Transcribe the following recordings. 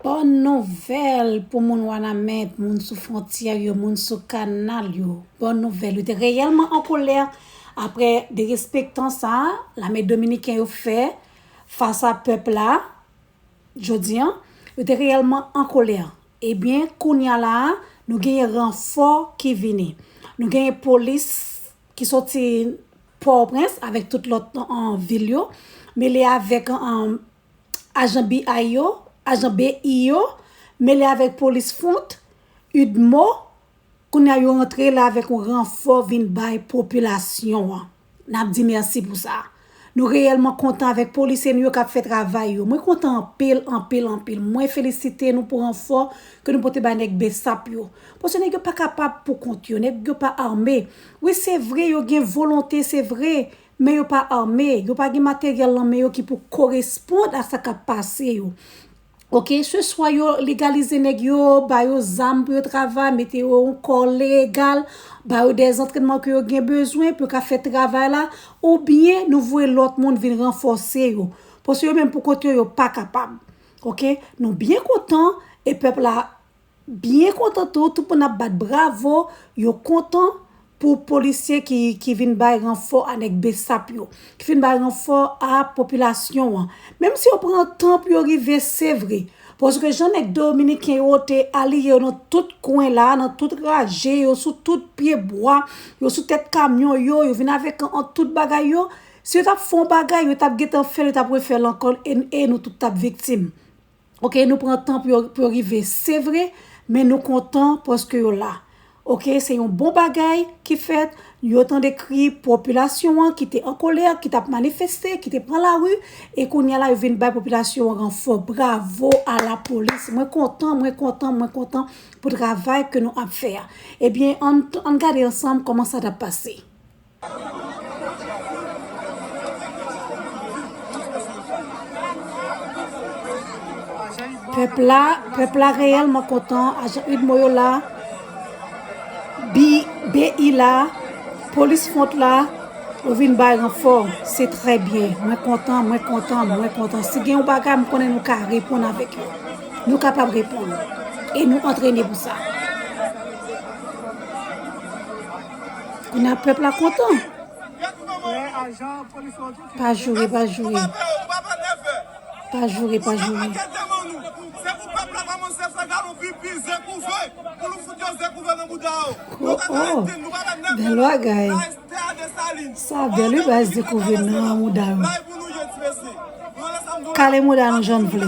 Bòn nouvèl pou moun Wanament, moun sou fwontyè yo, moun sou kanal yo. Bòn nouvèl. Yo te reyèlman an kolè apre derespektan sa a lame dominiken yo fè fas a pèp la jodi an. Yo te reyèlman an kolè. Ebyen, kounye a la a, nou genyen ranfò ki vini. Nou genyen polis ki soti Pòtoprens avèk tout lòt vil yo mele avèk ajan BI yo, ajan BI yo, mele avèk polis fwont, udmo, kounye a yo antre la avèk yon ranfò vin bay popilasyon an. N ap di mèsi pou sa. Nou reyèlman kontan avèk polisye nou yo k ap fè travay yo. Mwen kontan anpil, anpil, anpil. Mwen felisite nou pou ranfò ke nou pote bay nèg bsap yo. Paske nèg yo pa kapab pou kont yo, nèg yo pa ame. Wi se vre yo gen volonte, se vre, Men yo pa arme, yo pa gen materyèl lan men yo ki pou korespond a sa kap pase yo. Ok, se swa yo legalize nèg yo, ba yo zam pou yo travay, mete yo yon kò legal, ba yo de zantrenman ke yo gen bezwen pou yo ka fè travay la, ou byen nou voye lòt moun vin ranfòse yo. Pwase yo menm pou kont yo, yo pa kapab. Ok, nou byen kontan e pèp la. Byen kontan tou, tout moun ap bat bravo, yo kontan pou polisye ki vin bay ranfò a nèg bsap yo, ki vin bay ranfò a popilasyon an. Menm si yo pran tan pou yo rive, se vre. Paske jan nèg dominiken yo te aliye yo nan tout kwen la, nan tout raje, yo sou tout pye bwa, yo sou tèt kamyon yo, yo vin avèk an tout bagay yo, si yo t ap fè yon bagay, yo t ap gen tan fè l, yo t ap refè l ankò e nou tout t ap viktim. ok nou pran tan pou yo rive se vre men nou kontan paske yo la ok se yon bon bagay ki fèt yo tande kri popilasyon an ki te an kolè ki tap manifeste ki te pran lari e koun ya la yo vin bay popilasyon an ranfò bravo a la polis mwen kontan mwen kontan mwen kontan pou travay ke nou ap fè a ebyen an gade ansanm koman sa tap pase. Pèp la pèp la reyèlman kontan ajan udmo yo la BI la polis front la ou vin bay ranfò se trè byen mwen kontan mwen kontan mwen kontan si gen yon bagay m konnen nou ka reponn avèk yo nou kapab reponn e nou antrene pou sa. Kounye a pèp la kontan. Pa joure, pa joure. Pa joure, pa joure. Oh oh, bel bagay. Sa bel ou bas de kouve nan mouda yo. Kale mouda nou jan vle.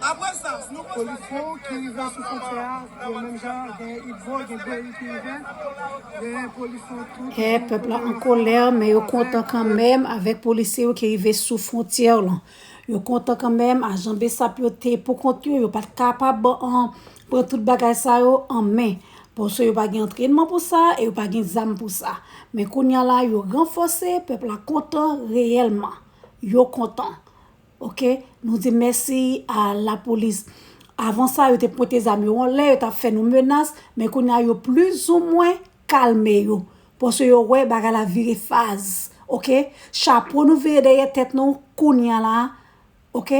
Apre sa, nou pral chwazi yon lòt zòn ki pral fè ansanm nan Mati Jama. Kè pèp la an kolè, men yo kontan kanmenm avèk polisye yo ki rive sou fwontyè lan. Yo kontan kanmenm, ajan bsap yo te pou kont yo, yo pa t kapab pran tout bagay sa yo an men. Paske yo pa gen antrènman pou sa e yo pa gen zam pou sa. Men kounya la, yo ranfòse, pèp la kontan reyèlman. Yo kontan. Ok nou di mèsi a la polis avan sa yo te pwente zam yo anlè yo tap fè nou menas men kounya yo pliz ou mwen kalme yo pwase yo wè bagay la vire faz ok chapo nou vire dèyè tèt nou kounya la ok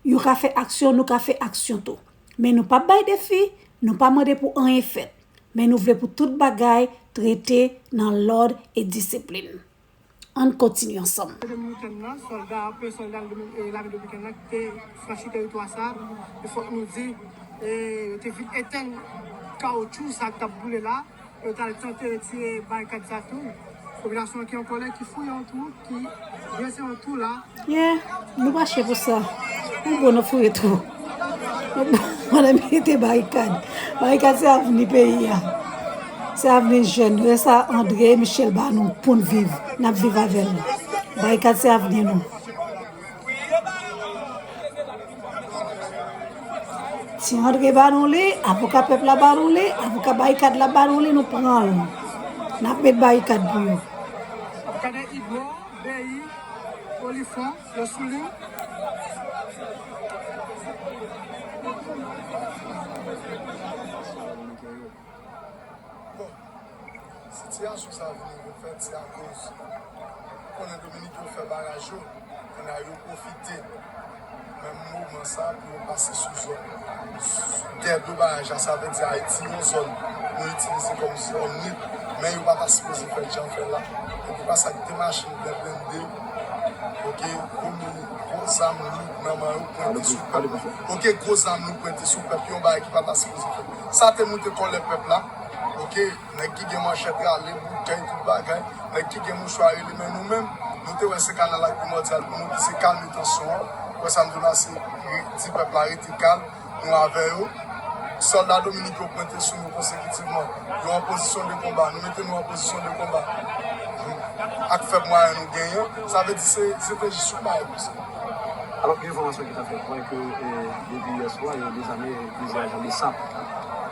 yo ka fè aksyon nou ka fè aksyon tou men nou pap bay defi nou pa mande pou anyen fèt men nou vle pou tout bagay trete nan lòd e disiplin. Ann kontinye ansanm. Te Dominiken nan, sòlda a, premye sòlda lame Dominiken nan ki te franchi teritwa sa a, e fòk nou di, yo te vin etenn kawotchou sa a ki t ap boule la, e yo t al tante retire barikad sa a tou. Popilasyon an ki an kòlè, ki fouye yon twou, ki dwese yon twou la. Yeah nou pa che pou sa. Ou bon nan foure twò. Mwen mete barikad. Barikad se avni peyi a. Se avni jèn nou. E sa Andre Michel ba nou pou n viv. N ap viv avè l. Barikad se avni nou. Ti Andre ba nou li. Avoka pèp la ba nou li. Avoka barikad la ba nou li. Nou pran l. N ap met barikad pou nou. Avoka de Igor. Beyi po li fon yo sou li. Bon sitiyasyon sa vini repèt se akoz ou konnen Dominik yo fè baraj yo, kounya yo pwofite. Menm moman sa pou yo pase sou zòn tè dlo baraj la sa vle di Ayiti yon zòn yo itilize kòm zòn lib men yo pa ta sipoze fèl jan fèl la epi pa sak gen machin byen blende ok gwo moun gwo zam loud nan man yo pwente sou pèp ok gwo zam loud pwente sou pèp yon bagay ki pa ta sipoze fèt sa te moute kòlè pèp la ok. Nèg ki gen manchèt rale boutèy tout bagay, nèg ki gen mouchwa rele men nou menm nou te wè se kanal la ki primòdyal pou nou ki se kalme tansyon an ou wè sa m di w la se di pèp la rete kalm nou avè yo sòlda dominik yo pwente sou nou konsekitivman yo an pozisyon de konba nou mete nou an pozisyon de konba ak fèb mwayen nou genyen sa vle di se strateji sou bay nou se. Alò gen enfòmasyon ki ta fè kwè ke depi yè swa yo dezame plizyè ajan besap.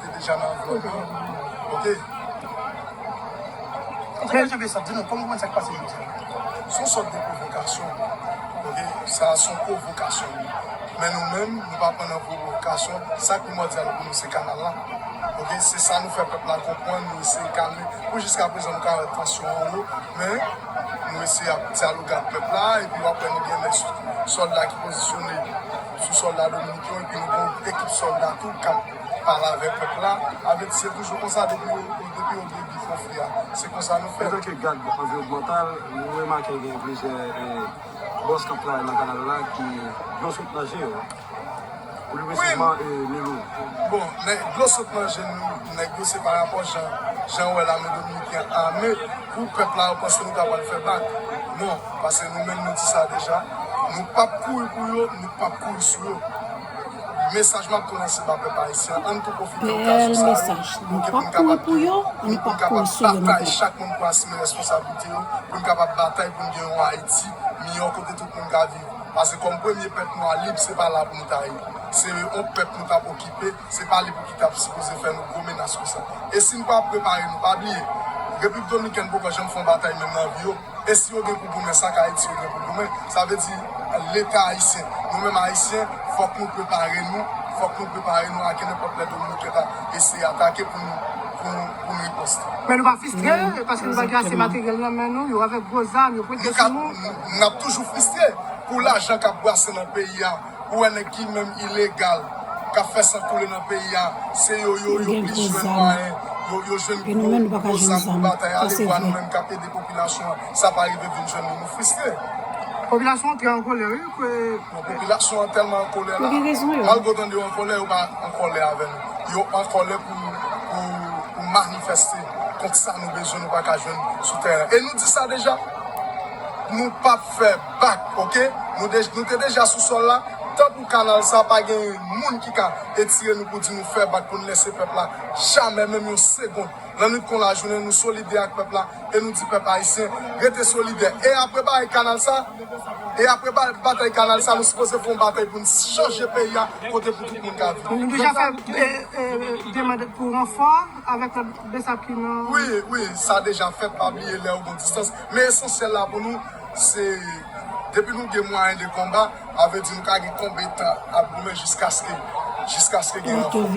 Li deja nan vlog lan ok. Antouka je besap di nou kòman kòman sak pase jodi a son sòt de pwovokasyon ok sa a son pwovokasyon wi men nou menm nou pa pran nan pwovokasyon sa primòdyal pou nou se kanal la ok se sa nou fè pèp la konprann nou eseye kalme pou jiska prezan nou ka wè tansyon an wo men nou eseye ap dyaloge ak pèp la epi wap wè nou gen lè sòlda ki pozisyone sou sòlda dominiken yo epi nou gen yon ekip sòlda tou kap Pale avè pèp la. Avèti se toujou konsa depi yo depi yo gen bif konfli a. Se konsa nou fè. Antanke gad anviwònmantal, nou remake gen plizyè bòs k ap travay nan kanal la ki dlo sot nan je yo. Plis presizman Milou. Bon, lè dlo sot nan je nèg yo se pa rapò jan jan ou wè lame dominiken ame pou pèp la ou panse nou ta pral fè bak. Non, pase nou menm nou di sa deja, nou p ap kouri pou yo, nou p ap kouri sou yo. Mesaj map tou lanse ba pèp ayisyen ann tou pwofite okazyon sa yo nou gen pou n kapab geri pou nou kapab batay chak moun pou asime reskonsablite yo pou n kapab batay pou n gen yon ayiti miyò kote tout moun ka viv pase kòm premye pèp nwa lib se pa la pou n ta ye se yon pèp nou tap okipe se pa li pou ki tap sipoze fè nou gwo menas konsa e si n pa prepare nou pa bliye repiblik dominikèn poko janm fè yon batay menm nan vi yo. E si yo gen pou goumen, sa k Ayiti yo gen pou goumen? Sa vle di Leta ayisyen. Nou menm Ayisyen, fòk nou prepare nou, fòk nou prepare nou a kenenpòt lè Dominikèn ta eseye atake pou nou pou nou riposte. Men nou pa fistre, paske nou pa gen ase materyèl nan men nou, yo avèk gwo zam, yo pwente sou nou. N ap toujou fistre pou lajan k ap bwase nan peyi a. Ou wè nèg ki menm ilegal kap fè san koule nan peyi a se yo yo yo plis jwenn mwayen yo yo jwenn gwo gwo zam pou batay ale wè nou menm kap ede popilasyon an sa pa rive vin jwenn nou nou fristre. Popilasyon an trè an kolè wi ke. Non popilasyon an tèlman an kolè la malgre w tande yo an kolè yo pa an kolè avè nou yo an kolè pou pou manifeste kont sa nou bezwen nou pa ka jwenn sou tèren e nou di sa deja nou pap fè. Back ok nou de nou te deja sou sol la tan pou kanal sa pa gen yn moun ki ka etire nou pou di nou fè back pou nou lèse pèp la jamè menm yon segond lannwit kon lajounen nou solidè ak pèp la e nou di pèp ayisyen rete solidè e apre baay kanal sa e apre baay batay kanal sa nou sipoze fè yon batay pou nou chanje peyi a kote pou tout moun ka viv Nou deja fè demand pou ranfò avèk lòt besap ki nan. Wi wi sa deja fèt pa bliye lèw gon distans Men esansyèl la pou nou se depi nou gen mwayen de konba, avle di nou ka gen konbetan ap goumen jiskaske jiskaske gen ranfò ok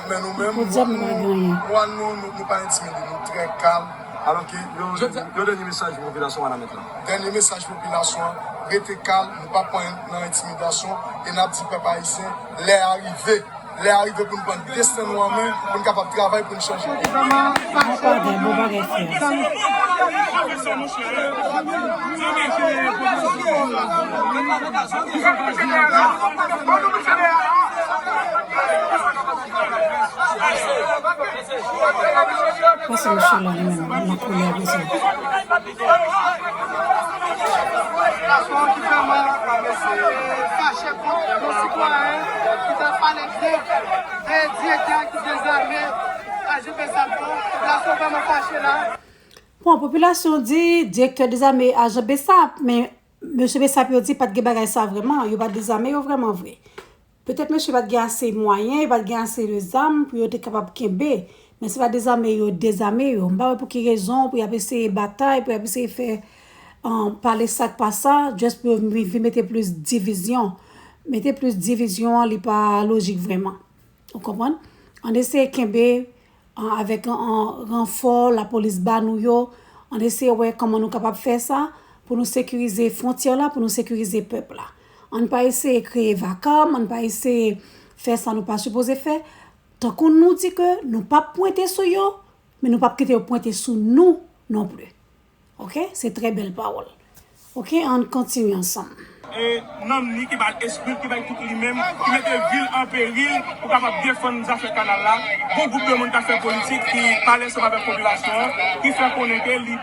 men nou menm mwa nou nou pa entimide nou trè kalm alò ke yon dènye mesaj pou popilasyon wanament lan dènye mesaj pou popilasyon an rete kalm nou pa pran nan entimidasyon e nap di pèp ayisyen lè a rive. Lè a rive pou n pran desten nou an men, pou n kapab travay pou n chanje. Bon, popilasyon di direktè dezame ajan besap, men mesye besap yo di pat gen bagay sa vreman, yo pa dezame yo vreman vre. Petèt mesye pat gen ase mwayen, yo pat gen ase de zam pou yo te kapab kenbe. Men se pa dezame yo dezame yo. M pa wè pou ki rezon pou y ap eseye batay, pou y ap eseye fè pale sa k pa sa, just pou yo vin mete plis divizyon. Mete plis divizyon an li pa lojik vrèman. Ou konprann? Ann eseye kenbe An avèk an ranfò lapolis ba nou yo, an eseye wè kòman nou kapab fè sa pou nou sekirize fwontyè la, pou nou sekirize pèp la. An n pa eseye kreye vakam, an n pa eseye fè sa nou pa sipoze fè. Tankou nou di ke nou p ap pwente sou yo, men nou p ap kite yo pwente sou nou non pli. Ok se trè bèl pawòl. Ok ann kontinye ansanm. E nanm li ki bay esprit ki bay tout li menm ki mete vil an peril pou kapab defann zafè kanal la gon gwoup de moun kap fè politik ki pale sèm avèk popilasyon an ki fè konnen ke li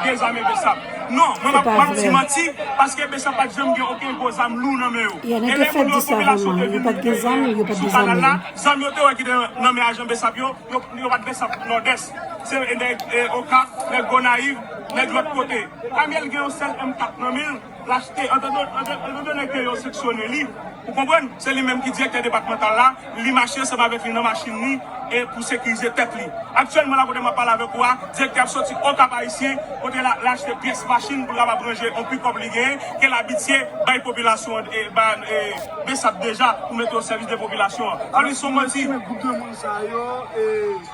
dezame bsap non mwen pap map di manti paske bsap pat janm gen oken gwo zam lou nan men yo e lè moun yo popilasyon te vin sou kanal la zam yo te wè ki te nan men ajan bsap yo Yo pat gen san pou Nòdès. Se nèg Okap, nèg Gonayiv, nèg lòt kote. Pamyèl gen yon sèl M 4 nan menl, l achte antande nèg yo yo seksyone li. Ou konprann? Se li menm ki direktè depatmantal la, li mache ansanm avèk li nan machin li e pou sekirize tèt li. Aktyèlman la kote map pale avèk ou a, direktè ap soti Okap Ayisyen kote l achte pyès machin pou l kapab ranje yon pikòp li genyen ke l abitye bay popilasyon Bsap deja pou mete o sèvis de popilasyon an. Sa vle di son manti. Sa yo e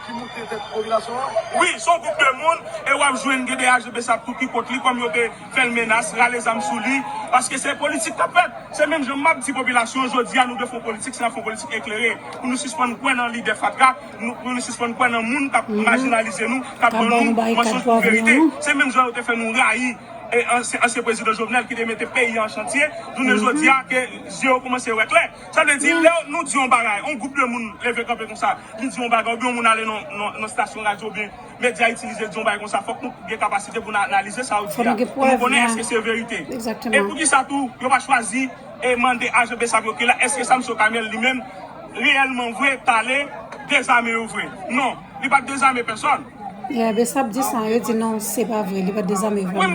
ki moun te tèt popilasyon an? Wi, son gwoup de moun e wap jwenn gen de aji besap tou ki kont li kòm yo te fèl menas, rale zam sou li, paske se politik kap fèt. Se menm jan map di popilasyon jodia nou dwe fon politik se nap fon politik eklere pou nou sispann kwè nan lidè fatra, pou nou sispann kwè nan moun kap majinalize nou, kap ban nou mansonj pou verite. Se menm jan yo te fè nou rayi ansyen prezidan Jovenel ki te mete peyi an chantye, jounen jodia ke zye yo koumanse wè klè. Sa vle di lè nou di yon bagay, yon gwoup de moun leve kanpe konsa, li di yon bagay, oubyen yon moun ale nan stasyon radyo oubyen medya itilize di yon bagay konsa, fòk nou gen kapasite pou nou analize sa yo di a, pou nou konnen èske se verite. E pou ki sa tou, yo pa chwazi e mande ajan bsap yo, ke la, èske sa msye Okamiel li menm reyèlman vre t ale dezame yo vre? Non, li pa t dezame pèsòn. Ya, bsap di sa, yo di non, se pa vre, li pa t dezame yo vre.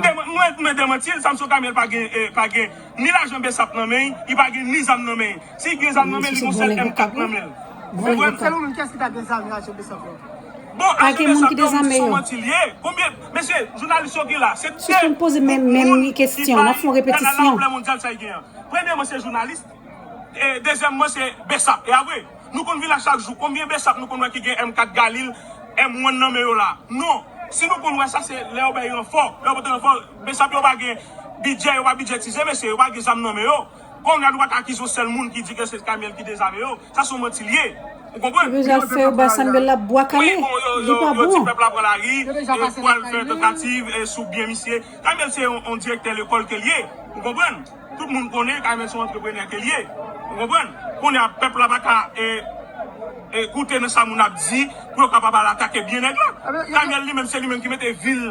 Mwen demanti l, sa msye Okamiel pa gen, pa gen. Ni lajan bsap nan men li pa gen ni zam nan men si li t gen zam nan men li gon sèl M 4 nan menl ou konprann. Selon nou kiyès ki ta gen zam lajan bsap yo. Bon ajan bsap yo son manti liye konbyen mesye jounalis yo gen la se 2 gwoup moun ki bay kanada anplè mondyal sa li gen an premyèman se jounalis e dezyèmman se bsap e apre nou konn vin la chak jou konbyen bsap nou konn wè ki gen M 4 galil M 1 nan men yo la non si nou konn wè sa se lè yo bay ranfò lè yo pote ranfò. Bsap yo pa gen bidjè yo pa bidjetize mesye yo pa gen zam nan men yo konnya nou pat akize yon sèl moun ki di ke se kamyèl ki dezame yo sa son manti liye ou konprann. Yo deja fè yo bay Sanbella bwa kale, li pa bon. Yo di pèp la pran lari, yo pwal fè tantativ sou byen misye. Kamyèl se yon direktè lekòl ke l ye, ou konprann. Tout moun konnen kamyèl se yon antreprenè ke l ye, ou konprann. Konnya pèp la pa ka koute nan sa moun ap di pou yo kapab al atake byen nèg la. Kamyèl li menm se li menm ki mete vil.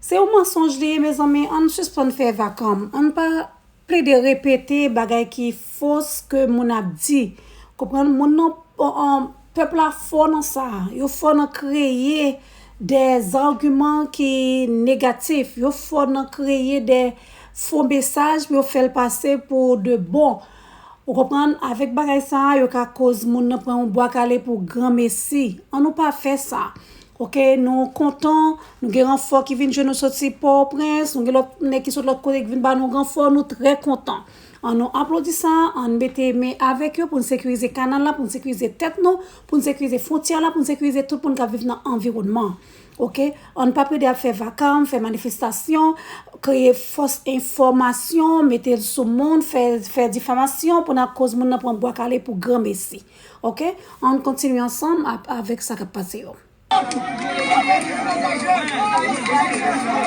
Se yon mansonj li ye mezanmi ann sispann fè vakanm ann pa plede repete bagay ki fos ke moun ap di konprann moun nan pèp la fò nan sa yo fò nan kreye dè zagiman ki negatif yo fò nan kreye dè fo mesaj pou yo fèl pase pou de bon ou konprann avèk bagay sa yo ka koz moun nan pran yon bwa kale pou gran mesi annou pa fè sa Ok nou kontan nou gen ranfò ki vin jwenn nou soti pòoprens nou gen lòt nèg ki sot lòt kote ki vin ba nou ranfò nou trè kontan an nou aplodi sa ann mete men avèk yo pou n sekirize kanal la pou n sekirize tèt nou pou n sekirize fwontyè la pou n sekirize tout moun k ap viv nan anviwònman an ok ann pa plede ap fè vakam fè manifestasyon kreye fòs enfòmasyon mete l sou moun fè difamasyon pou n akoz moun nan pran bwa kale pou granmesi. Ok an kontinye ansanm avèk sa kap pase yo.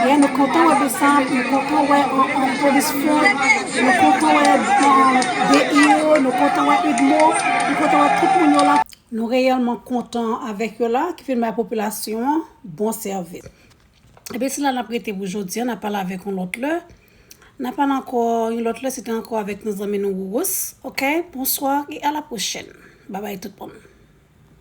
Yen nou kontan wè besap nou kontan wè an polis fò nou kontan wè BIO nou kontan wè idmo nou kontan wè tout moun yo la nou reyèlman kontan avèk yo la ki vin bay popilasyon an bon sèvis epi se la nap rete pou jodi an nap pale avèk yon lòt lè. Nan pale anko yon lot le se te anko avek nou zanmi nou Rurus ok bonswa e a la prochèn babay tout moun.